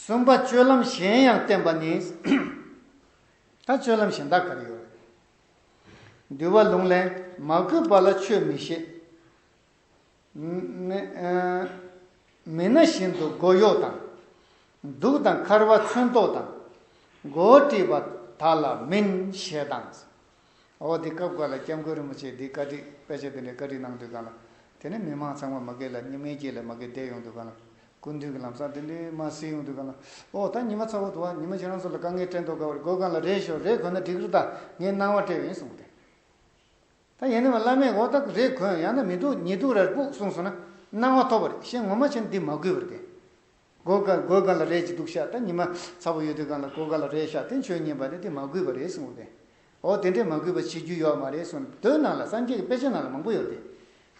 གསུམ་པ་སྤྱོད་ལམ་གཞན་ཡང་བསྟན་པ་ནི། ད་སྤྱོད་ལམ་གཞན་དག་ག་རེ་ཡོད་རེད། འདུལ་བ་ལུང་ལས་མ་གུས་པ་ལ་ཆོས་མི་བཤད། མི་སྣ་བཞིན་དུ་མགོ་གཡོག་དང། གདུགས་དང་འཁར་བ་མཚོན་ཐོགས་དང། མགོ་བོ་དཀྲིས་པ་དག་ལ་མིན་ཞེས་དང། འོ་འདི་སྐབས་འགའ་ལ་སྐྱབས་མགོན་རིན་པོ་ཆེས་འདི་བཀའ་ཁྲིད་དཔེ་ཆ་འདི་འདྲའི་བཀའ་ཁྲིད་གནང་དུས་གང་ལ། དེ་ནས་མི་མང་ཚང་མ་མ་སྐད་ལ་སྙིང་མའི་སྐྱེས་ལས་མ་སྐད་བསྡད་ཡོང་དུས་གང་ལ། སྐུ་མདུན་གྱི་ལམ་སང་འདི་འདྲའི་མ་གསིལ་ཡོང་དུས་གང་ལ། འོ་ད་ཉི་མ་ཚ་བོ་འདུག་ཨ་ཉི་མ་ཁྱེད་རང་ཚོ་ལ་དཀའ་ངལ་སྤྲད་མདོག་དགའ་བར་དགོས་གང་ལ་རེད་ཞོག་རེད་གོན་ན་འགྲིག་རེད་ད་ངས་སྣང་བ་སྤྲད་ཡོད་ཡིན་གསུངས་པ་དེ། ད་ཡིན་ནའང་བླ་མས་འོ་ད་རེད་གོན་ཡང་ན་མི་འདུག་ཉིད་འདུག་ར་རེད་སྤུག་གསུངས་སོང་ན་སྣང་བ་ཐོབ་པ་རེད་ཤེས་ངོ་མ་ཆེན་འདི་མ་གུས་པར་བསྟན། སྒོ་ག་སྒོའི་ག་ལ་རས་ཀྱི་དུག་བཤགས་ད་ཉི་མ་ཚ་པོ་ཡོད་དུས་གང་ལ་སྒོ་ག་ལ་རས་བཤགས་དེ་ཆོས་ཉན་པ་ནི་དེ་མ་གུས་པ་རེད་གསུངས་པས། འོ་དེ་འདྲས་མ་གུས་པ་བྱེད་རྒྱུ་ཡོད་མ་རེད་གསུངས་ནས་དོན་ནང་ལ་སངས་རྒྱས་ཀྱི་དཔེ་ཆ་ནང་ལ་མང་པོ་ཡོད་དེ།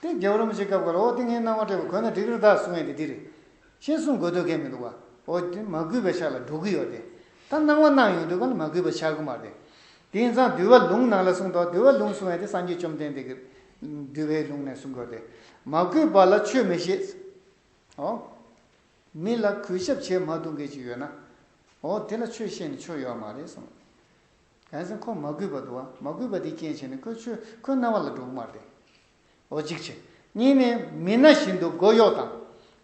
དེ་རྒྱལ་པོ་རིན་པོ་ཆེ་སྐབས་ག་ལ་འོ་དེ་ངའི་སྣང་བ་སྤྲད་པ་གོ་ན་འགྲིག་རི་དྭགས་གསུང་ཡས་དེ་འདི་རེད། ཤེས་གསུངས་དགོས་དོད་མཁན་མི་འདུག་བ། འོ་དེ་མ་གུས་པའི་ཕྱག་ལ་འགྲོ་གི་ཡོད་དེ། ད་སྣང་བ་སྣང་ཡོང་དུས་གང་ལ་མ་གུས་པ་བྱ་གི་མ་རེད། དེ་ཡིན་ཙང་འདུལ་བ་ལུང་ནང་ལ་གསུངས་དོ་འདུལ་བ་ལུང་གསུང་ཡས་དེ་སངས་རྒྱས་བཅོམ་ལྡན་འདས་ཀྱི་འདུལ་བའི་ལུང་ནས་གསུངས་དགོས་དེ། མ་གུས་པ་ལ་ཆོས་མི་ཤེས། ཨོ། མི་ལ་གུས་ཞབས་བྱེད་མ་ཐུབ་མཁན་ཞིག་ཡོད་ན། ཨོ་དེ་ལ་ཆོས་བཤད་ནས་ཆོ་ཡོད་མ་རེད་གསུངས། གལ་སྲིད་ཁོ་མ་གུས་པ་འདུག་ཨ་མ་གུས་པ་དེའི་རྐྱེན་བྱས་ནས་ཁོའི་ཆོས་ཁོའི་རྣ་བ་ལ་འགྲོ་གི་མ་རེད། ཨོ་གཅིག་བྱས། གཉིས་ནས་མི་ན་བཞིན་དུ་མགོ་གཡོག་དང།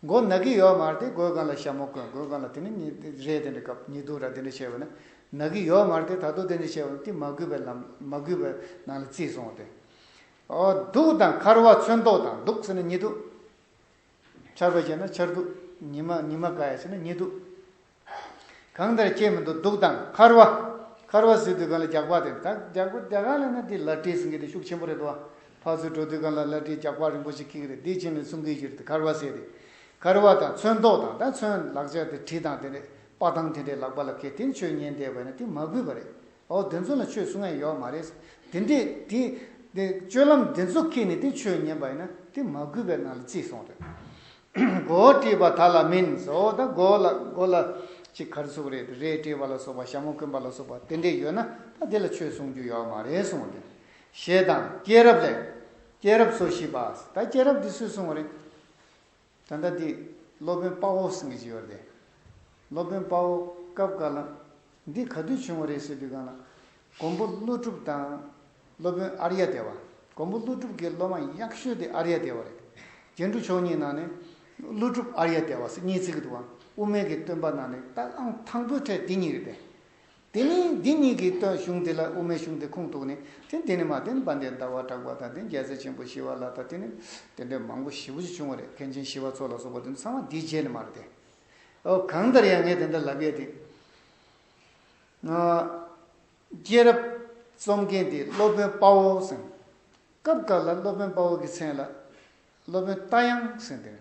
མགོ་ན་གི་ཡོད་མ་རེད་དེ་གོས་གང་ལ་ཞྭ་མོ་བསྐོན་གོས་གང་ལ་དེ་ནི་རེད་དེ་འདྲ་སྐབས་ཉི་དུག་ར་དེ་འདྲ་བྱས་བས་ན་ན་གི་ཡོད་མ་རེད་དེ་ད་དུག་དེ་འདྲ་བྱས་བས་ཏེ་མ་གུས་པའི་ལམ་མ་གུས་པའི་ནང་ལ་བརྩིས་སོང་བས། ཨོ་དུག་དང་འཁར་བ་ཚོན་མདོག་དང་དུག་ཟེར་ན་ཉི་དུག། ཆར་པ་ཞེས་ན་ཆར་གདུགས། ཉི་མ་ཉི་མ་ག་ཡ་ཞེས་ན་ཉི་གདུགས། གང་དེར་སྐྱེས་མི་འདུག་གདུགས་དང་འཁར་བ། འཁར་བ་ཟོས་དུས་གང་ལ་རྒྱགས་པགས་དེ་དག་རྒྱགས་པགས་རྒྱགས་གང་ལ་ན་དེ་ལར་བྲིས་ཟིན་གི་དེ་ཤུགས་ཆེན་པོ་རེད་དོ། ཕག་ཚུལ་འགྲོ་དུས་གང་ལ་ལར་བྲིས་རྒྱགས་པགས་རིང་པོ་ཞིག་ཁེགས་ཀི་རེད་དེ་ཕྱིན་ནས་སྲུང་གིས་གཞིར་དེ་འཁར་བ་བཟས་ཏེ། འཁར་བ་དང་ཚོན་མདོག་དང་ད་ཚོན་ལག་ཆ་དེ་བྲིས་དང་དེ་འདྲས་དཔའ་ཐང་དེ་འདྲས་ལག་པ་ལ་ཁེལ་དེ་ཆོས་ཉན་བསྡད་པ་ཡིན་ན་དེ་མ་གུས་པ་རེད། ཨོ་དེ་ཚོ་ལ་ཆོས་གསུང་ཡ་ཡོག་མ་རེད། དེ་འདྲས་དེ། དེ་སྤྱོད་ལམ་དེ་ཚོ་ཁེ་ནས་དེ་ཆོས་ཉན་པ་ཡིན་ན་དེ་མ་གུས་པའི་ནང་ལ་བརྩིས་སོང་རེད། མགོ་བོ་དཀྲིས་པ་དག་ལ་མིན་བཟོ་བོ་དང་མགོ་ལ་མགོ་ལ་ཅིག་གར་ཟུག་རེད་རེད་དཀྲིས་པ་ལ་སོགས་པ་ཞྭ་མོ་བསྐོན་པ་ལ་སོགས་པ་དེ་འདྲས་ཡོད་ན་ད་དེ་ལ་ཆོས་གསུང་རྒྱུ་ཡོག་མ་རེད་གསུང་དེ། ཞེས་དང་སྐྱེས་རབས་ལས། སྐྱེས་རབས་སོ་བཞི་པ། ད་སྐྱེས་རབས་འདི་སུས་གསུང་བ་རེད། ད་ལྟ་དེ་སློབ་དཔོན་དཔའ་བོ་ཟེར་གི་བྱས་པར་བསྡད། སློབ་དཔོན་དཔའ་བོ་སྐབས་འགར་ལ། འདི་ག་དུས་བྱུང་བ་རེད་ཟེར་དུས་གང་ལ། མགོན་པོ་ཀླུ་སྒྲུབ་དང། སློབ་དཔོན་ཨར་ཡ་དེ་བ། མགོན་པོ་ཀླུ་སྒྲུབ་ཀྱི་སློབ་མ་ཡག་ཤོས་དེ་ཨར་ཡ་དེ་བ་རེད། རྒྱན་དྲུག་མཆོག་གཉིས་ནང་ནས། ཀླུ་སྒྲུབ་ཨར་ཡ་དེ་བ་སེ་གཉིས་ཚིག་གི་འདུག་ཨང། དབུ་མེད་ཀྱི་སྟོན་པ་ནང་ནས་རྟགས་ཨང་དང་པོའི་གྲས་དེ་གཉིས་རེད་པས། དེ་ནི་འདི་གཉིས་ཀྱི་སྟོད་གཞུང་དེ་ལ་དབུ་མའི་གཞུང་དེ་ཁུངས་གཏུགས་ནས་དེ་འདི་ནི་མ་བསྟན་པ་འདི་ཟླ་བ་གྲགས་པ་དང་དེ་རྒྱལ་སྲས་ཆེན་པོ་ཞི་བ་ལ་དང་དེ་ནི་དེ་འདྲའི་མང་པོ་ཞི་བ་ཅིག་བྱུང་བ་རེད་མཁན་ཆེན་ཞི་བ་འཚོ་ལ་སོགས་པ་དེ་ཚང་མ་འདིའི་རྗེས་ནས་མ་རེད་དེ། ཨོ་གང་ལྟར་ཡང་ངས་དེ་འདྲ་ལབ་ཡས་དེ། སྐྱེས་རབས་རྩོམ་མཁན་དེ་སློབ་དཔོན་དཔའ་བོ་ཟེར། སྐབས་འགར་ལ་སློབ་དཔོན་དཔའ་བོ་གི་མཚན་ལ་སློབ་དཔོན་རྟ་དབྱངས་ཟེར་དེ།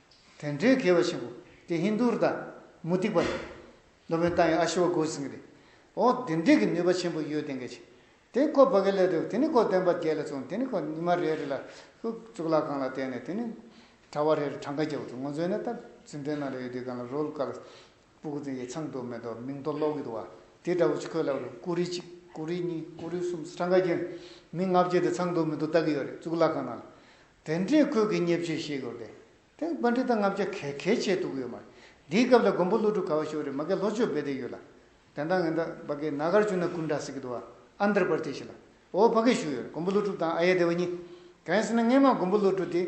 དེ་འདྲའི་དགེ་བ་ཆེན་པོ་དེ་ཧིན་དྷུ་རུ་དང་མུ་སྟེགས་པ་རེད། སློབ་དཔོན་ཏཱ་ཡང་ཨ་ཤི་བ་སྒོ་ཟིང་རེད། ཨོ་དེ་འདྲས་ཀྱི་ནུས་པ་ཆེན་པོ་ཡོད་དེ་འགས་ཆེ། དེ་ནི་ཁོ་བོད་སྐད་ལས་སྡོད་དེ་ནི་ཁོ་སྟོན་པ་བརྒྱད་ལ་བཙོང་དེ་ནི་ཁོ་ཉི་མ་རེ་རེ་ལ་ཧཱུྃ་གཙུག་ལག་ཁང་ལ་བསྟན་ནས་དེ་ནི་གྲྭ་བ་རེ་རེ་གྲངས་ཀ་བརྒྱ་བ་བཙོང་ངོ་བཙོན་ནས་ད་རྫུན་ཏན་ནང་ལ་ཡོད་དུས་གང་ལ་རོལ་དཀའ་ལ་སྤུ་གུ་ཙི་ཡི་ཚང་དུ་མེ་ཏོག་མིང་ཐོ་ཀློག་གི་འདུག་བ་དེ་འདྲ་བོ་ཆུ་ཁོལ་ལ་བ་རུ་ཀུ་རེ་གཅིག་ཀུ་རེ་གཉིས་ཀུ་རེ་གསུམ་ས་གྲངས་ཀ་བརྒྱད་མི་ལྔ་བརྒྱད་དེ་ཚང་དུ་མེ་ཏོག་བཏགས་ཀྱི་ཡོད་རེད་གཙུག་ལག་ཁང་ནང་ལ་དེ་འདྲའི་ཁོད་ཀྱི་བརྙས་བཅོས་ཤེས་དགོས་ཏེ། དེ་དཔོན་འདྲེ་དང་ལྔ་བརྒྱ་གས་གས་བྱས་འདུག་ཡོད་མ་རེད། འདིའི་སྐབས་ལ་མགོན་པོ་ཀླུ་སྒྲུབ་ག་བ་ཤོར་རེད་མ་གས་ལྷོ་ཕྱོགས་སྦས་སྡད་ཡོད་ལ། དེ་འདང་ངན་ད་བ་གས་ན་གར་བྱུང་ན་ཀུན་འདྲ་སི་གི་འདུག་ཨ། Andhra Pradesh། ལ་བོ་བྷ་གས་ཞུ་ཡོད་རེད་མགོན་པོ་ཀླུ་སྒྲུབ་དང་ཨ་ཡེ་དེ་བ་གཉིས། གན་སི་ན་སྔན་མ་མགོན་པོ་ཀླུ་སྒྲུབ་དེ།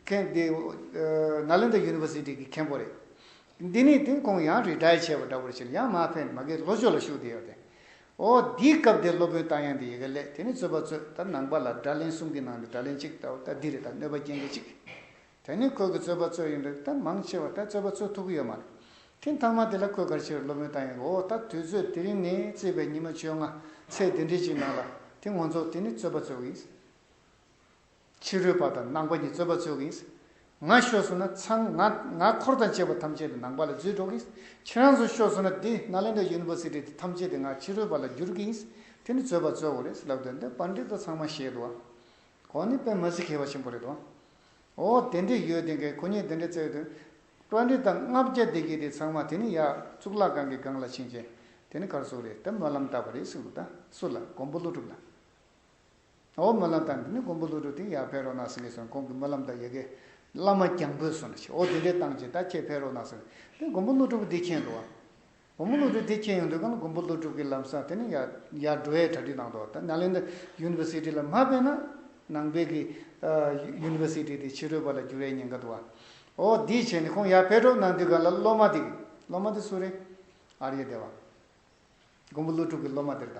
གན་དེ། Nalanda University གི་མཁན་པོ་རེད། འདི་ནས་དེ་ཁོང་ཡང་རི་ཏཱའི་བྱས་བ་འདྲ་བོར་བྱས་ཡང་མ་ཕན་མ་གས་ལྷོ་ཕྱོགས་ལ་ཞུགས་བསྡད་ཡོད་དེ། ཨོ། འདིའི་སྐབས་དེར་སློབ་དཔོན་རྟ་དབྱངས་ཏེ་ཡི་གེ་ལས་དེ་ནི་རྩོད་པ་རྩོད་ད་ནང་པ་ལ་སྒྲ་ལན་གསུམ་གྱི་ནང་དུ་སྒྲ་ལན་གཅིག་བལྟ་བ་ད་འདི་རེད་ད་གནོད་པ་རྐྱེན་མཁན་གཅིག་དེ་ནི་ཁོས་ཀྱི་རྩོད་པ་རྩོད་ཡིན་པས་ད་མང་ཆེ་བ་ད་རྩོད་པ་རྩོད་ཐུབ་ཀྱི་ཡོད་མ་རེད་ཁྱི་མཐའ་མ་དེ་ལ་ཁོས་གར་ཕྱིན་རེ་སློབ་དཔོན་རྟ་དབྱངས་ཀྱི་ཨོ་ད་དུས་ཚོད་དེ་རིང་ནས་བརྩིས་པའི་ཉི་མ་བཅོ་ལྔ་ཚེས་དེ་འདྲི་གཅིག་ནང་ལ་དེ་ངོ་མཚོག་དེ་ནི་རྩོད་པ་རྩོད་གི་ཡིན། ཕྱི་རོལ་པ་དང་ནང་པ་གཉིས་རྩོད་པ་རྩོད་གིན། ང་ཤོར་སོང་ན་ཚང་ང་ང་འཁོར་དང་བཅས་པ་ཐམས་ཅད་དེ་ནང་པ་ལ་རྫུས་འགྲོ་གིན། ཁྱེད་རང་ཚོ་ཤོར་སོང་ན་དེ Nalanda University དེ་ཐམས་ཅད་དེ་ང་ཕྱི་རོལ་པ་ལ་བསྒྱུར་གིན། དེ་ནི་རྩོད་པ་རྩོད་བོ་རེད་ལབ་དོན་དེ་པར་འགྲིག་ཏོ་ཚང་མ་ཤེས་དོ། ཁོང་ནི་དཔེ་མ་གཟིགས་མཁས་པ་ཆེན་པོ་རེད་དོ། ཨོ་དེ་འདྲས་ཡོད་དེ་གས་ཁོ་གཉིས་དེ་འདྲས་བརྩད་དོན། པར་འགྲིག་དང་ལྔ་བརྒྱ་སྡེ་དགེ་དེ་ཚང་མ་དེ་ནི་ཡག་གཙུག་ལག་ཁང་གི་སྒང་ལ་ཕྱིན་རྐྱེན་དེ་ནི་གར་སོག་རེད་དེ་སྨོན་ལམ་བཏབ་པ་རེད་གསུངས་འདུག་ད་སུ་ལ་མགོན་པོ་ཀླུ་སྒྲུབ་ལ། འོ་སྨོན་ལམ་དང་འདི་ནི་མགོན་པོ་ཀླུ་སྒྲུབ་དེ་ཡར་ཕེབས་རོགས་གནང་ཟེར་ངེས་སོང་ཁོང་གིས་སྨོན་ལམ་དང་ཡི་གེ། བླ་མ་གྱང་འབོད་སོང་ཞེས་འོ་དེ་འདྲའི་བཏང་རྗེས་ད་ཁྱེད་ཕེབས་རོགས་གནང་ཟེར་ནས་དེ་མགོན་པོ་ཀླུ་སྒྲུབ་འདི་ཁྱེར་འགྲོ། མགོན་པོ་ཀླུ་སྒྲུབ་དེ་ཁྱེར་ཡོང་དུས་ཀླུ་མགོན་པོ་ཀླུ་སྒྲུབ་ཀྱི་ལམ་སང་དེ་ནི་ཡར་འགྲོ་བའི་གྲ་སྒྲིག་གནང་འདུག་ད Nalanda University ལ་མ་ཕེབས་ན་ནང་པའི་གི University དེ་ཕྱི་རོལ་པ་ལ་འགྱུར་བའི་ཉེན་ཁ་འདུག་འོ་དེའི་ཆེད་ནས་ཁོང་ཡར་ཕེབས་རོགས་གནང་དུས་ག་ལ་སློབ་མ་དེ་གི་སློབ་མ་དེ་སུ་རེད། ཨར་ཡེ་དེ་བ། མགོན་པོ་ཀླུ་སྒྲུབ་ཀྱི་སློབ་མ་དེར་ད།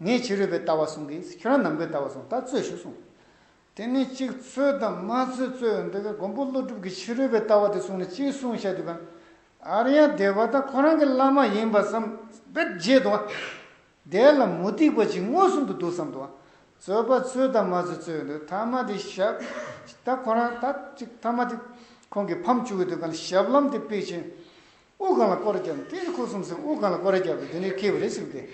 ངས་ཕྱི་རོལ་པའི་ལྟ་བ་གསུང་གི་ཁྱོད་རང་ནང་པའི་ལྟ་བ་གསུང་ད་རྩོད་ཞུ་གསུང། དེ་ནི་གཅིག་རྩོད་དང་མ་རྩོད་རྩོད་ཡོང་འདོད་པས་མགོན་པོ་ཀླུ་སྒྲུབ་ཀྱིས་ཕྱི་རོལ་པའི་ལྟ་བ་དེ་གསུང་ནས་གཅིག་གསུང་བཤད་དུས་གང། ཨ་རི་ཡ་སྡེ་བ་དང་ཁོ་རང་གི་བླ་མ་ཡིན་པ་བསམ་བས་རྗེས་དུ་དེ་ལ་མུ་སྟེགས་པ་ཅིག་མངོན་སུམ་དུ་འདུག་བསམ་དུ་རྩོད་པ་རྩོད་དང་མ་རྩོད་རྩོད་ཡོང་འདོད་ཐ་མ་དེ་ཞབས་ད་ཁོ་རང་ད་ཅིག་ཐ་མ་དེ་ཁོང་གིས་ཕམ་བཅུག་གི་དུས་གང་ཞབས་ལམ་དེ་པིག་ཆེན་དབུགས་གང་ལ་བསྐོར་བརྒྱབ་ནས་དེ་ནི་ཁུ་སུམ་སེ་དབུགས་གང་ལ་བསྐོར་བརྒྱབ་པའི་དེ་ནི་ཁེའུ་རེ་ཟུག་སྟེ།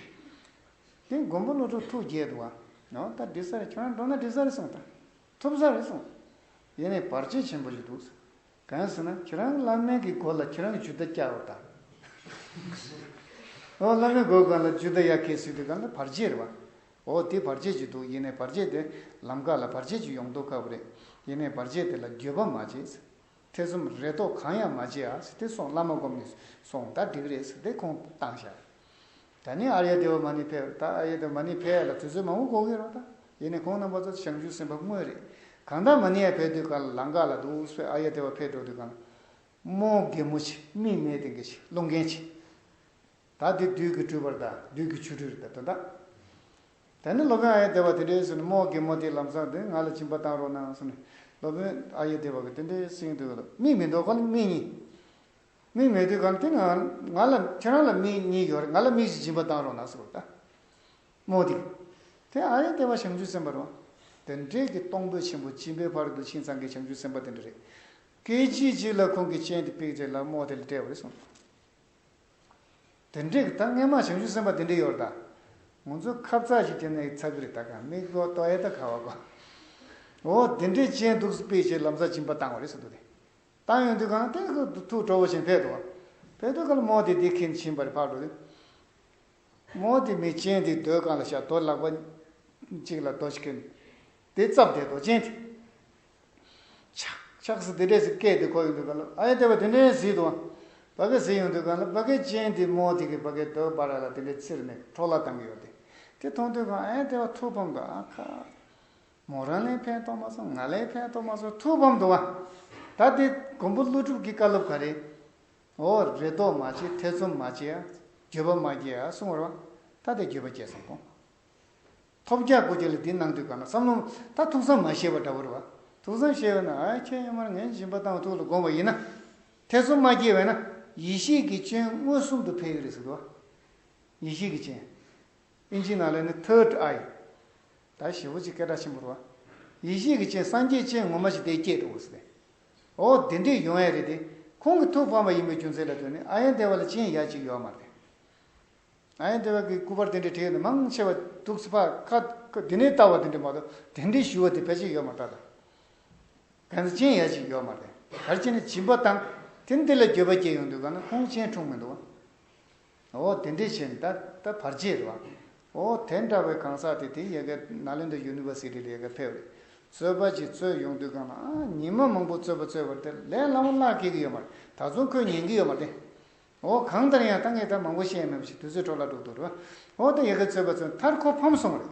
དེ་མགོན་པོ་བློ་གྲོས་ཐུགས་རྒྱལ་དུ་བ། ཨོ་ད་དྲི་ཟ་རེ་ཁྱོད་རང་འགྲོ་ན་དྲི་ཟ་རེ་གསུངས་དང། ཐུབ་ཟ་རེ་གསུངས། ཡེ་ནས་བར་ཆད་ཆེན་པོ་ཞིག་འདུག་ཟེར། གང་ཟེར་ན་ཁྱེད་རང་གི་བླ་སྨན་གྱི་མགོ་ལ་ཁྱེད་རང་གི་ཇུ་དར་བཀྱགས་འོ་ད། ཨོ་བླ་མའི་མགོ་གང་ལ་ཇུ་དར་གཡག་ཁེའུ་ཟུག་དེ་གང་ལ་བར་ཆད་རེད་བ། ཨོ་དེ་བར་ཆད་ཅིག་འདུག་ཡེ་ནས་བར་ཆད་དེ་ལམ་ཁ་ལ་བར་ཆད་ཅིག་ཡོང་མདོག་དཀའ་བོ་རེད། ཡེ་ནས་བར་ཆད་དེ་ལ་འགྱོད་པ་མ་བྱེད། ཐེ་ཚོམ་རེ་དོགས་གང་ཡང་མ་བྱེད་ཨ་ཟེར་ཏེ་སོང་བླ་མ་བསྒོམས་ནས་སོང་ད་འགྲིག་རེད་ཟེར་ཏེ་ཁོང་བཏང་ཞག་ད་ནི་ཨར་ཡ་དེ་བ་མ་ནི་ཕེབས་ད་ཨར་ཡ་དེ་བ་མ་ནི་ཕེབས་ལ་དུས་ཚོད་མང་བོ་འགོར་གི་རོགས་ད་ཡེ་ནས་ཁོང་རྣམ་པ་ཚོ་བྱང་ཆུ་སེམས་པ་དངོས་རེད་གང་ད་མ་ནི་ཡ་ཕེབས་དུས་ག་ལ་ལངས་ག་ལ་འདུག་ཨུས་ཕེ་ཨར་ཡ་དེ་བ་ཕེབས་འགྲོ་དུས་གང་མོ་རྒན་མོ་ཆེ་མིག་མེད་དེ་འགས་ཆེ་བློ་འགན་ཆེ་ད་འདི་བདུད་ཀྱི་སྤྲུལ་པར་ད་བདུད་ཀྱི་ཆུ་སྤྲུལ་རེད་ད་དོན་དག། ད་ནི་སློབ་དཔོན་ཨ་ཡེ་དེ་བ་དེ་འདྲའི་སུ་ནི་རྨོག་གེ་མོ་དེའི་ལམ་བཟང་དེ་ང་ལ་བྱིན་པ་གཏང་རོགས་གནང་སུ་ནི་སློབ་དཔོན་ཨ་ཡེ་དེ་བ་གི་དེ་འདྲའི་སེང་དུ་མིག་མི་འདུག་ག་ལ་མིག་གཉིས་མིག་མེད་དུས་ག་ལ་དེ་ནི་ང་ལ་ཁྱེད་རང་ལ་མིག་གཉིས་ཡོད་རེད་ང་ལ་མིག་བཞི་བྱིན་པ་གཏང་རོགས་གནང་སུ་ལྟ་མོ་དེ་དེ་ཨ་ཡེ་དེ་བ་བྱང་ཆུབ་སེམས་དཔར་བ་དེ་འདྲས་ཀྱི་གཏོང་ཕོད་ཆེན་པོ་བྱིན་པའི་བར་དུ་ཕྱིན་ཚང་གི་བྱང་ཆུབ་སེམས་དཔའ་དེ་འདྲ་རེད་སྐད་ཅིག་གཅིག་ལ་ཁོང་གི་སྤྱན་དེ་བིག་ཚེ་ལགས་རྨོག་དེ་ལ་སྤྲད་བ་རེད་གསུངས་དེ་འདྲའི་གི་ད་སྔས་མ་བྱང་ཆུབ་སེམས་དཔའ་དེ་འདྲའི་ཡོར་ད། ངོ་ཚོ་ཁབ་ཚགས་ཞིག་བྱས་ན་ཡིག་ཚགས་གིརི་ད་ག་མིག་གོ་ལྟོ་ཨེ་ད་ག་བ་གོ། འོ་དེ་འདྲའི་ཅན་འདུག་སི་པའི་ཆེད་ལམ་ས་བྱིན་པ་བཏང་བ་རེད་སི་འདུག་དེ། བཏང་ཡོང་དུས་གང་ལྟས་ཁུ་དུ་ཐུག་གྲོ་བོ་ཆེན་ཕེད་དུ་བ། ཕེད་དུ་ག་ལ་མོ་དེ་དེ་ཁིན་བྱིན་པ་རེད་ཕག་གྲོ་དེ། མོ་དེ་མི་ཅན་དེ་རྡོའི་གང་ལ་ཤ་རྡོ་ལག་པ་གཅིག་ལ་རྡོ་ཅིག་ཁིན། དེ་རྩབ་དེ་རྡོ་ཅན་དེ། ཆགས། ཆགས་སུ་དེ་འདྲས་སུ་སྐད་དེ་གོ་ཡོང་དུས་ག་ལ། ཨ་ཡེ་དེ་བ་དེ་འདྲས་ཟིག་དུ། བ་གེ་ཟིག་ཡོང་དུས་ག་ལ་བ་གེ་ཅན་དེ་མོ་དེ་གི་བ་གེ་དོལ་པ་ར་ལ་དེ་འདྲས་ཚིར་མེད་ཁྲོ་ལ་བཏང་གི་ཡོད་དེ། དེ་མཐོང་དུས་ག་ཨ་ཡེ་དེ་བ་ཐུགས་ཕམ་དུ་ཨ་ཁ། མོ་རང་ལས་ཕན་ཐོགས་མ་སོང་ང་ལས་ཕན་ཐོགས་མ་སོང་ཐུགས་ཕམ་དུ་བ། ད་དེ་མགོན་པོ་ཀླུ་སྒྲུབ་ཀྱི་བཀའ་སློབ་ག་རེ། འོ་རེ་དོགས་མ་བྱེད་ཐེ་ཚོམ་མ་བྱེད་ཨ། འགྱོད་པ་མ་སྐྱེ་ཨ་གསུང་བར་བ། ད་དེ་འགྱོད་པ་སྐྱེས་སོང་གོང། ཐོབ་རྒྱག་དགོས་རྒྱུ་ལ་འདི་གནང་དུས་གང་ན་བསམ་བློ་ད་ཐུགས་བསམ་མ་བཞེས་པ་འདྲ་བོ་རེད་བ། ཐུགས་བསམ་བཞེས་འོས་ན་ཨ་ཁྱེད་གཡོན་མར་ངན་སྦྱིན་པ་དང་ཐུགས་ལ་དགོངས་པ་ཡིན་ན། ཐེ་ཚོམ་མ་སྐྱེས་བས་ན་ཡེ་ཤེས་ཀྱི་སྤྱན་མངོན་སུམ་དུ་འཕེལ་གི་རེད་ཟེར་གི་བ། ཡེ་ཤེས་ཀྱི་སྤྱན། དབྱིན་ཇིའི་ནང་ལས་ནི Third Eye། ད་ཞེ་བོ་ཅིག་སྐད་གྲགས་ཆེན་པོ་རེད་བ། ཡེ་ཤེས་ཀྱི་སྤྱན་སངས་རྒྱས་སྤྱན་ངོ་མ་ཞིག་དེ་སྐྱེས་འགྲོ་དགོས་ཟེར། ཨོ་དེ་འདྲས་ཡོང་ཡ་རེད་དེ། ཁོང་གི་ཐུགས་ཕམ་པ་ཡིན་པའི་རྒྱུ་མཚན་ལ་ལྟོས་ནས་ཨ་ཡེ་འདས་བ་ལ་སྤྱན་ཡག་ཅིག་ཡོད་མ་རེད། ང་ཡང་དེ་བས་ཀྱི་སྐུ་པར་དེ་འདྲའི་བྲིས་ནི་མང་ཆེ་བ་འདུག་སི་པ་ཁ་ཁ་དེ་ནས་བལྟ་བ་དེ་འདྲའི་མ་གཏོགས་དེ་འདྲའི་ཞུ་བ་དེ་ཕལ་ཆེར་ཡོད་མ་ཐག་ལ། གན་ས་ཅན་ཡ་ཅིག་ཡོད་མ་རེད། གར་སྤྱི་ནི་བྱིན་པ་དང་དེ་འདི་ལ་འགྱོད་པ་སྐྱེས་ཡོང་དུས་གང་ན་ཁོང་གཅེན་འཁྲུངས་མི་འདུག་བ། འོ་དེ་འདྲའི་ཆེ་ནི་ད་ལྟ་བར་རྗེས་རེད་བ། འོ་དེ་འདྲ་བའི་གང་ཟག་དེ་དེའི་ཡལ་གའི་ནཱ་ལེནྡྲ་ཡུ་ནི་བ་སི་ཏི་ལ་ཡལ་ག་ཕེབས་རེད་རྩོད་པ་ཅིག་རྩོད་ཡོང་དུས་གང་ན་ཉི་མ་མང་པོ་རྩོད་པ་རྩོད་བར་དེ་ལས་སླ་མོ་སླ་སྐྱེས་ཀྱི་ཡོད་མ་རེད་ད་རྫོང་ཁོས་ཉན་གྱི་ཡོད་མ་རེད། ཨོ་གང་ལྟར་ཡང་ད་ངས་ད་མང་པོ་བཤད་མེད་པ་ཞིག་དུས་ཚོད་འཕྲོ་བརླག་འགྲོ་འདུག་རེད། ཨོ་ད་ཡི་གེ་རྩོད་པ་ཚོ་མཐར་ཁོ་ཕམ་སོང་རེད།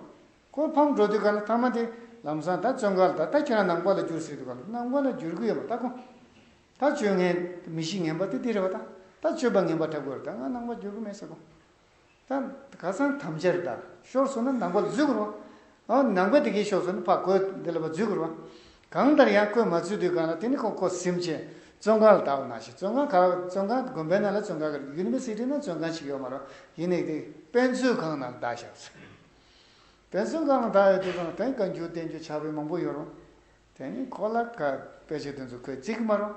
ཁོ་ཕམ་འགྲོ་དུས་ག་ལ་ཐ་མ་དེ། ལམ་སང་ད་བཙོན་ག་ལ་ད་ད་ཁྱེད་རང་ནང་པ་ལ་འགྱུར་ཟེར་དུས་ག་ལ་ནང་པ་ལ་འགྱུར་གི་ཡོད་པ་ད་གོ། ད་བཅོས་ངན། མི་གཞི་ངན་པ་དེ་དེ་རེད་བ་ད། ད་བཅོས་པ་ངན་པ་དྲག་པོ་རེད་ད་ང་ནང་པ་འགྱུར་གི་མེད་ཟེར་གོ། ག་སང་དམ་ཅེར་བདག་ཤོར་སོང་ན་ནང་པ་འཛུལ་དགོས་རུང། ནང་པའི་དེ་གས་ཤོར་སོང་ན་ཕ་གོས་དེ་ལ་བ་འཛུལ་དགོས་རུང། གང་ལྟར་ཡང་གོས་མ་འཛུལ་དུས་གང་ལ་དེ་ནི་ཁོ་ཁོ་སེམས་ཅན་བཙོན་ཁང་ལ་དྭགས་བ་ན་ཞིག་བཙོན་ཁང་ག་བཙོན་ཁང་དགོན་པའི་ནང་ལ་བཙོན་ཁང་ག་རེད་ཡུན་ནི་སི་ཁྲིར་ན་བཙོན་ཁང་ཞིག་ཡོད་མ་རུང་ཡིན་ནི་དཔོན་བཙོན་ཁང་ནང་དྭགས་ཞབས་སུ་དཔོན་བཙོན་ཁང་ནང་དྭགས་ཡོད་དུས་གང་ལྟར་བཀའ་འགྱུར་བསྟན་འགྱུར་ཆགས་པའི་མང་པོ་ཡོད་རུང། དེ་ནི་ཁོ་ལ་ག་དཔེ་ཆ་དེ་ཚོ་ཁོས་བརྩི་གི་མ་རུང།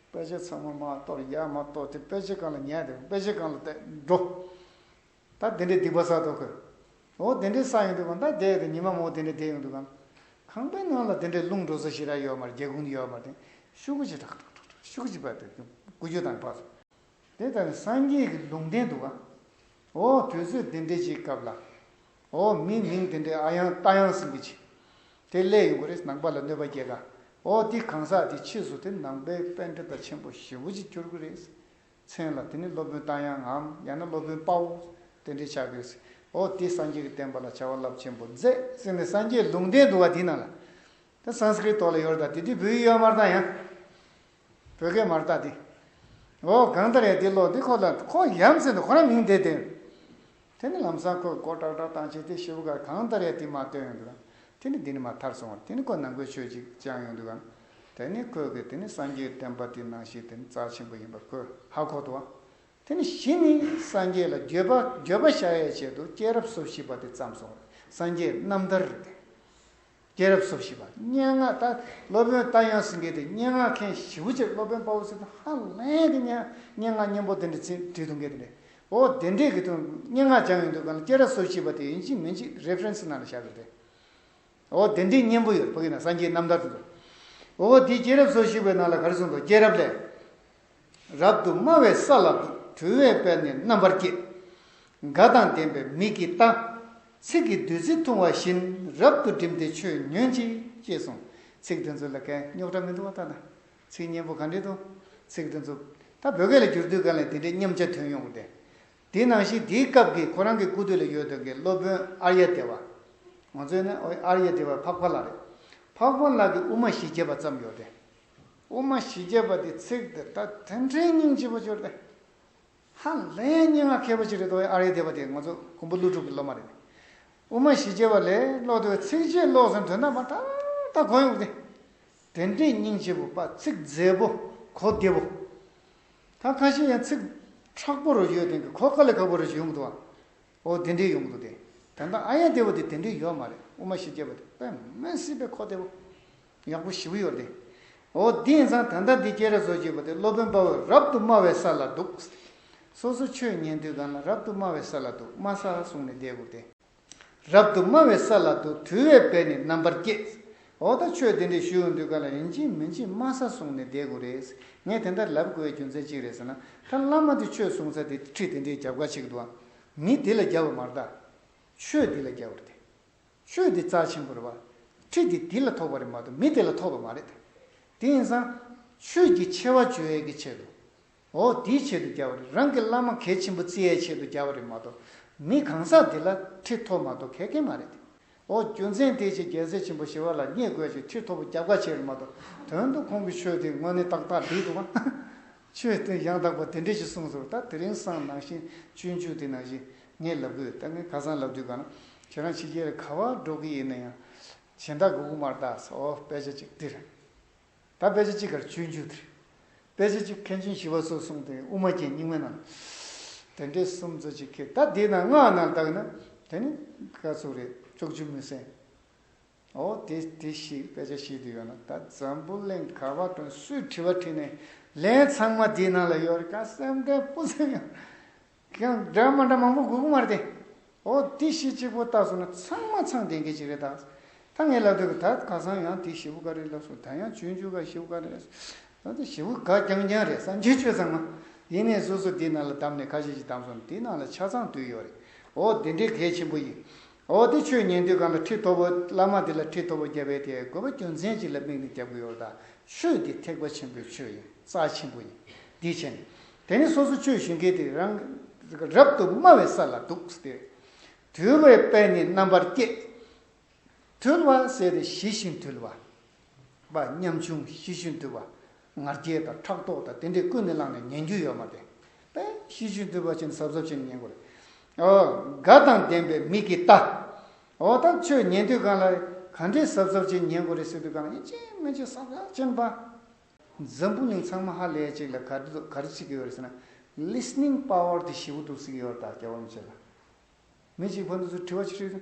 དཔེ་ཆ་ཚང་མ་མ་གཏོར་ཡ་མ་གཏོར་དེ་དཔེ་ཆའི་སྒང་ལ་ཉལ་དེ་དཔེ་ཆའི་སྒང་ལ་བལྟས་འགྲོ། ད་དེ་འདྲའི་སྡིག་པ་བསགས་འདུག་གི། འོ་དེ་འདྲའི་བསགས་ཡོང་དུས་གང་ད་བསྡད་དེ་ཉི་མ་མོ་དེ་འདྲའི་བསྡད་ཡོང་དུས་གང། ཁང་པའི་ནང་ལ་དེ་འདྲའི་རླུང་འགྲོ་ས་ཞིག་ར་ཡོད་མ་རེད་སྒེའུ་ཁུང་ཡོད་མ་རེད་ཤུག་གུ་ཆེ་ཁྲག་ཁྲག་ཁྲག་ཁྲག་ཤུག་གུ་ཆེ་བབས་ཏེ་སྒུག་རྒྱུ་དང་བབས། དེ་ལྟར་སངས་རྒྱས་ཀྱི་ལུང་བསྟན་འདུག་ག། འོ་དུས་ཚོད་དེ་འདྲའི་ཞིག་སྐབས་ལ། ཨོ་མིའི་མིང་དེ་འདྲའི་ཨ་ཡང་རྟ་ཡང་ཟིན་གྱི་མཆི། དེ་སླད་ཡོང་གི་རེད་ནང་པ་ལ་གནོད་པ་སྐྱེལ་དཀའ། ཨོ་འདི་གང་ཟག་དེ་ཕྱིས་སུ་དེ་ནང་པའི་དཔེ་འདྲེ་དང་ཆེན་པོ་ཞེ་བོ་ཅིག་གྱུར་གི་རེད། མཚན་ལ་དེ་ནི་སློབ་དཔོན་རྟ་དབྱངས་ངམ་ཡང་ན་སློབ་དཔོན་དཔའ་བོ་དེ་འདྲས་ཆགས་དགོས། ཨོ་དེ་སངས་རྒྱས་ཀྱི་བསྟན་པ་ལ་བྱ་བ་རླབས་ཆེན་པོ་མཛད། སེམས་ནས་སངས་རྒྱས་ལུང་བསྟན་འདུག་བ་དེ་ནང་ལ། དེ Sanskrit དོག་ལ་ཡོར་དང་དེ་དུས་བོད་ཡིག་ཡོར་མར་དང་ཡང། བོད་སྐད་མར་བཏགས་ཏེ། འོ་གང་ལྟར་ཡ་འདི་ལོག་འདི་ཁོག་ལ་ཁོ་ཡ་མཚན་དུ་ཁོ་རང་མིང་དེ་དེར། དེ་ནི་ལམ་སང་ཁོས་སྒོ་དྲག་དྲག་བཏང་བྱས་ཏེ་ཞོའུ་གར་གང་ལྟར་ཡ་འདི་མར་བཏོན་ཡོང་འདུག་གམ། དེ་ནི་འདི་ནི་མར་ཐར་སོང་བར་དེ་ནི་ཁོ་ནང་ཁོའི་ཆོས་ཅིག་སྦྱངས་ཡོང་འདུག་གམ། དེ་ནི་ཁོས་གིས་དེ་ནི་སངས་རྒྱས་བསྟན་པ་དེའི་ནང་ཞིག་དེ་ནི་རྩ་ཆེན་པོ་ཡིན་པར་ཁོས་ཧ་གོ་འདུག་གམ། དེ་ནི་གཞི་ནི་སངས་རྒྱས་ལ་འགྱོད་པ་འགྱོད་པ་བཤའ་ཡས་བྱས་འདུག་སྐྱེས་རབས་སོ་བཞི་པ་དེ་བརྩམས་སོང་བས་སངས་རྒྱས་རྣམ་ཐར་དེ། སྐྱེས་རབས་སོ་བཞི་པ་སྙན་ངག་ལྟ་སློབ་དཔོན་རྟ་དབྱངས་སེང་གེ་སྟེ་སྙན་ངག་མཁན་བཞི་བོ་ཅེས་སློབ་དཔོན་དཔའ་བོ་སི་ཏུ་ཧ་ལན་གྱི་སྙན་ངག་སྙན་པོ་དེ་འདྲ་ཚིག་བྲིས་འདུག་གལ་ཏེ་འདྲེ་བོ་བདེ་འབྲས་ཀྱི་དུས་སྙན་ངག་སྦྱངས་ཡོད་འདུག་གམ་སྐྱེས་རབས་སོ་བཞི་པ་དེ་ཡིན་གཅིག་མིན་གཅིག Reference ནང་ལ་བཞག་ཡོད་རེད། བོ་བདེ་འབྲས་སྙན་པོ་ཡོད་བོ་ཡིན་ན་སངས་རྒྱས་རྣམ་ཐར་དུ་འདུག་བོ་བོ་དེའི་སྐྱེས་རབས་སོ་བཞི་པའི་ནང་ལ་ག་རེ་གསུངས་འདུག་སྐྱེས་རབས་ལས། རབ་ཏུ་དམའ་བའི་ས་ལ་གྲུལ་བའི་དཔལ་ནི་རྣམ་པར་བསྐྱེད། དགའ་དང་ལྡན་པའི་མིག་གིས་ལྟ། ཚིག་གིས་བདུད་རྩི་འཐུང་བ་བཞིན་རབ་ཏུ་བསྒྲིམས་ཏེ་ཆོས་ཉོན་ཅིག། ཅེས་གསུངས། ཚིག་འདི་ཚོ་ལ་གད་རྙོག་དྲ་མི་འདུག་བ་ལྟ་ན། ཚིག་སྙན་པོ་ག་འདྲས་འདུག། ཚིག་འདི་ཚོ། ད་བོད་སྐད་ལ་བསྒྱུར་དུས་གང་ལས་དེ་འདྲའི་སྙམ་བྱ་དོན་ཡོང་གི་རེད། དེ་ནང་བཞིན་དེའི་སྐབས་ཀྱི་ཁོ་རང་གི་སྐུ་དུས་ལ་ཡོད་དོ་གི་སློབ་དཔོན་ཨར་ཡ་དེ་བ། ང་ཚོའི་ནི་ཨར་ཡ་དེ་བ་འཕགས་པ་ལགས་རེད། འཕགས་པ་ལགས་ཀྱི་དབུ་མ་ཞི་བྱེད་པ་ཙམ་ཡོད་དེ། དབུ་མ་བཞི་བརྒྱད་པ་དེ་ཚིག་འདི་ལྟར་དོན་འཕྲེང་སྙིང་བཞི་པོ་སྦྱོར་ཏེ། ཧ་ལས་ཡན་སྙན་ངག་མཁས་པོ་ཅིག་རེད་དོ་ཨ་རེ་དེ་བ་དེ་ང་ཚོ་མགོན་པོ་ཀླུ་སྒྲུབ་ཀྱི་སློབ་མ་རེད། དབུ་མ་བཞི་བརྒྱད་པ་ལས་ཀློག་དེ་བས་ཚིག་བརྒྱད་ཀློག་ཟིན་དོན་དམ་པར་ད་ལྟ་གོ་ཡོང་གི་དེ། དོན་འཕྲེང་སྙིང་བཞི་པོ་པ་ཚིག་མཛེས་པོ་གོ་བདེ་བོ། ད་ཁ་ཤས་ཡང་ཚིག་ཁྲག་པོ་རུ་ཡོད་དོན་གྱི་གོ་དཀའ་ལས་ཁག་པོ་རེ་ཞིག་ཡོང་གི་འདུག་ཨ་འོ་དེ་འདྲའི་ཡོང་གི་འདུག་དེ་དོན་དམ་ཨ་ཡན་དེ་བ་དེ་དེ་འདྲའི་ཡོད་མ་རེད་དབུ་མ་བཞི་བརྒྱད་པ་དེ་དཔེ་མི་སྲིད་པའི་གོ་བདེ་བོ། ཡག་པོ་ཞིབ་ཡོད་རེད། འོ་དེ་ཡིན་ཙང་ད་ལྟ་འདི་སྐྱེས་ར་བཟོ་བྱེད་པ་དེ་སློབ་དཔོན་དཔའ་བོས་རབ་ཏུ་སྨྲ་བའི་ས་ལ་འདུག། སོ་སོ་ཆོས་ཉན་དུས་གང་ན་རབ་ཏུ་སྨྲ་བའི་ས་ལ་འདུག་སྨྲ་ས་བཟུང་ནས་བསྡད་དགོས་ཏེ། རབ་ཏུ་སྨྲ་བའི་ས་ལ་འདུག་དུས་བས་བས་ནི་རྣམ་པར་སྐྱེས། འོ་ད་ཆོས་དེ་འདྲས་ཞུས་འོང་དུས་ག་ལ་ཡིན་ཅིས་མིན་ཅིས་སྨྲ་ས་བཟུང་ནས་བསྡད་དགོས་རེད། ངས་དེ་འདྲ་ལབ་དགོས་པའི་རྒྱུ་མཚན་ཅི་རེད་ཟེར་ན། ད་བླ་མ་དེ་ཆོས་གསུང་ཚར་དེ་ཁྲིད་དེ་འདྲས་རྒྱབ་ཁ་ཕྱེ་གི་འདུག་ཨ། མི་དེ་ལ་རྒྱབ་བ་མ་རེད་ད། ཆོས་འདི་ལ་རྒྱབ་རེད་དེ། ཆོས་འདི་རྩ་ཆེན་པོ་རེད་བ། ཁྲིད་འདི་དེ་ལ་ཐོགས་པ་རེད་མ་གཏོགས་མི་དེ་ལ་ཐོགས་པ་མ་རེད། དེ་ཡིན་ཙང། ཆོས་ཀྱི་ཆེ་བ་བརྗོད་ཡས་ཀྱི་ཆེད་དུ། འོ་དེའི་ཆེད་དུ་རྒྱབ་བ་རེད་རང་གི་བླ་མ་གལ་ཆེན་པོ་བརྩི་ཡས་ཆེད་དུ་རྒྱབ་བ་རེད་མ་གཏོགས། མི་གང་ཟག་དེ་ལ་ཁྲིད་ཐོགས་མ་ཐོགས་གལ་ཀན་མ་རེད། འོ་རྒྱུ་མཚན་དེའི་ཆེད་རྒྱལ་སྲས་ཆེན་པོ་ཞི་བ་ལ་བརྙས་དགོས་ཀྱི་ཁྲིད་ཐོགས་པ་རྒྱབ་ཁ་ཆེ་རེད་མ་གཏོགས་དོན་དུ་ཁོང་གི་ཆོས་དེ་དངོས་གནས་ཏག་ཏག་བསྒྲིགས་འདུག་བ། ཆོས་བསྟན་ཡང་དག་པ་དེ་འདྲས་ཞིག་གསུངས་སོ། ད་དེ་རིང་སང་ནང་བཞིན་སྤྱོད་འཇུག་དེ་ནང་བཞིན་ངས་ལབ་དགོས་ད་ངས་ཁ་སང་ལབ་དུས་གང་ན་ཁྱེད་རང་ཕྱི་རྒྱལ་རེ་ག་བར་འགྲོ་གི་ཡིན་ན་ཡང། གཞན་དག་གི་དབུ་མར་བཏགས་སོ་དཔེ་ཆ་གཅིག་འདི་རེད། ད་དཔེ་ཆ་གཅིག་གར་སྤྱོད་འཇུག་དེ་རེད། དཔེ་ཆ་གཅིག་མཁན་ཆེན་ཞི་བ་སོགས་གསུངས་དེ་དབུ་མ་རྒྱན་རྙིང་མའི་ནང། དེ་འདྲས་གསུམ་གཙོ་གཅིག་ཁེལ་ད་འདི་ནང་སྔགས་ནང་བཏགས་ན་དེ་ནི་དཀའ་ཚུགས་རེད་ཅོག་ཅུ་མི་གསན། ཨོ་དེ་དེ་ཞིག་དཔེ་ཆ་ཤེས་རྒྱུ་ཡོད་ན་ད་འཛམ་བུ་གླིང་ག་བ་དང་སུས་དྲི་བ་དྲིས་ནས་ལན་ཚང་མ་དེའི་ནང་ལ་ཡོད་རེད་ཀ་སེམས་ཁྲལ་སྤུ་ཙམ་ཡང་ཁྱོད་སྒྲ་མ་འདྲ་མང་པོ་གུག་མ་རེད་ཨོ་དེ་ཞིག་གཅིག་པོ་བཏགས་སོང་ན་ཚང་མ་ཚང་དེ་འགས་ཅིག་རེད་དཱ་ད་ངས་ལབ་འདོད་གི་ད་ག་ཚང་ཡང་དེ་ཞི་བུ་ག་རེད་ལབ་སོང་ད་ཡང་ཆུ་འཇུ་ག་ཞི་བུ་ག་རེད་ད་དེ་ཞི་བུ་ག་རྐྱང་རྐྱང་རེད་བསམ་གྱིན་བཅོས་ཚང་མ་ཡིན་ནས་སོ་སོ་དེའི་ནང་ལ་བདམས་ནས་ཁ་ཤས་ཤིག་བདམས་སོང་ནས་དེའི་ནང་ལ་ཆ་ཚང་དུས་ཡོད་རེད་ཨོ་དེ་འདྲའི་གལ་ཆེན་པོ་ཡིན་འོ་དེ་ཆོས་ཉན་དུས་གང་ལ་ཁྲི་ཐོབ་བོ་བླ་མ་དེ་ལ་ཁྲི་ཐོབ་བོ་རྒྱབ་པའི་དེ་དགོས་པ་རྒྱུ་མཚན་ཅིག་ལ་དམིགས་ནས་རྒྱབ་དགོས་ཡོད་དཱ། ཆོས་འདི་ཐེག་པ་ཆེན་པོའི་ཆོས་ཡིན་རྩ་ཆེན་པོ་ཡིན། དེ་ཕྱིར། དེ་ནི་སོ་སོ་ཆོས་ཞུ་མཁན་དེ་རང་གིས་རབ་ཏུ་སྨྲ་བའི་ས་ལ་འདུག་སྟེ། དུལ་བའི་དཔལ་ནི་རྣམ་པར་བསྐྱེད། དུལ་བ་ཟེར་ཏེ་ཞི་ཞིང་དུལ་བ། བ་སྙམ་བྱུང་ཞི་ཞིང་དུལ་བ། ང་རྒྱལ་དང་ཕྲག་དོག་དང་དེ་འདྲས་ཀུན་ནས་བསླངས་ནས་ཉན་རྒྱུ་ཡོད་མ་དེ། པས། ཤེས་བྱའི་འདོད་པ་ཅན་ཟབ་ཟབ་བྱས་ནས་ཉན་དགོས་རེད། ཨོ། དགའ་དང་ལྡན་པའི་མིག་གིས་ལྟ། ཨོ་ད་ཁྱོད་ཉན་དུས་གང་ལ། ག་འདྲས་ཟབ་ཟབ་བྱས་ནས་ཉན་དགོས་རེད་ཟེར་དུས་གང་ལ་ཡིན་ཅི་སྨོས་ཅི་བསམ་ཡ་ཅན་པ། འཛམ་བུ་གླིང་ཚང་མ་ཧ་ལས་ཅིག་ལ་ག་འདྲི་དོ་ག་རེ་ཚིག་གི་ཡོད་རེད་ཟེར་ན། Listening Power དེ་ཞི་བོ་འདུག་ཚིག་གི་ཡོད་རེད་ད་རྒྱ་བོར་མི་བྱེད་ལ། མི་གཅིག་ཕ་འདུག་ཚུལ་དྲི་བ་ཆེ་ཧྲིལ།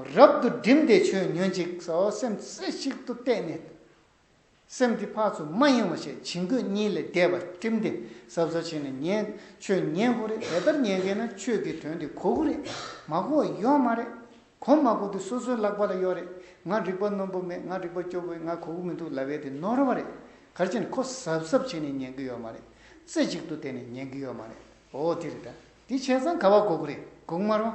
རབ་ཏུ་བསྒྲིམས་ཏེ་ཆོས་ཉོན་ཅིག། སེམས་རྩེ་གཅིག་ཏུ་གཏད་ནས། སེམས་དེ་འཕགས་ཚུལ་མ་ཡེངས་བ་ཞེས་བྱིང་རྒོད་གཉིས་ལས་འདས་པར་བསྟིམས་ཏེ་ཟབ་ཟབ་བྱས་ནས་ཉན། ཆོས་ཉན་གོ་རེ་དེ་ལྟར་ཉན་མཁན་ན་ཆོས་ཀྱི་དོན་དེ་གོ་གོ་རེ། མ་གོ་བ་ཡོད་མ་རེ། གོ་མ་གོ་དེ་སོ་སོའི་ལག་པ་ལ་ཡོད་རེ། ང་རིག་པ་རྣོན་པོ་མེད་ང་རིག་པ་སྐྱོ་བོས་ང་གོ་གོ་མི་འདུག་ལབ་བས་དེ་ནོར་བ་རེ། གར་ཅན་ཁོ་ཟབ་ཟབ་བྱས་ནས་ཉན་གི་ཡོད་མ་རེ། རྩེ་གཅིག་ཏུ་གཏད་ནས་ཉན་གི་ཡོད་མ་རེ། འོ་དེ་རེ་ད། དེ་བྱས་ཙང་ག་བ་གོ་གོ་རེ་གོག་མ་རུང།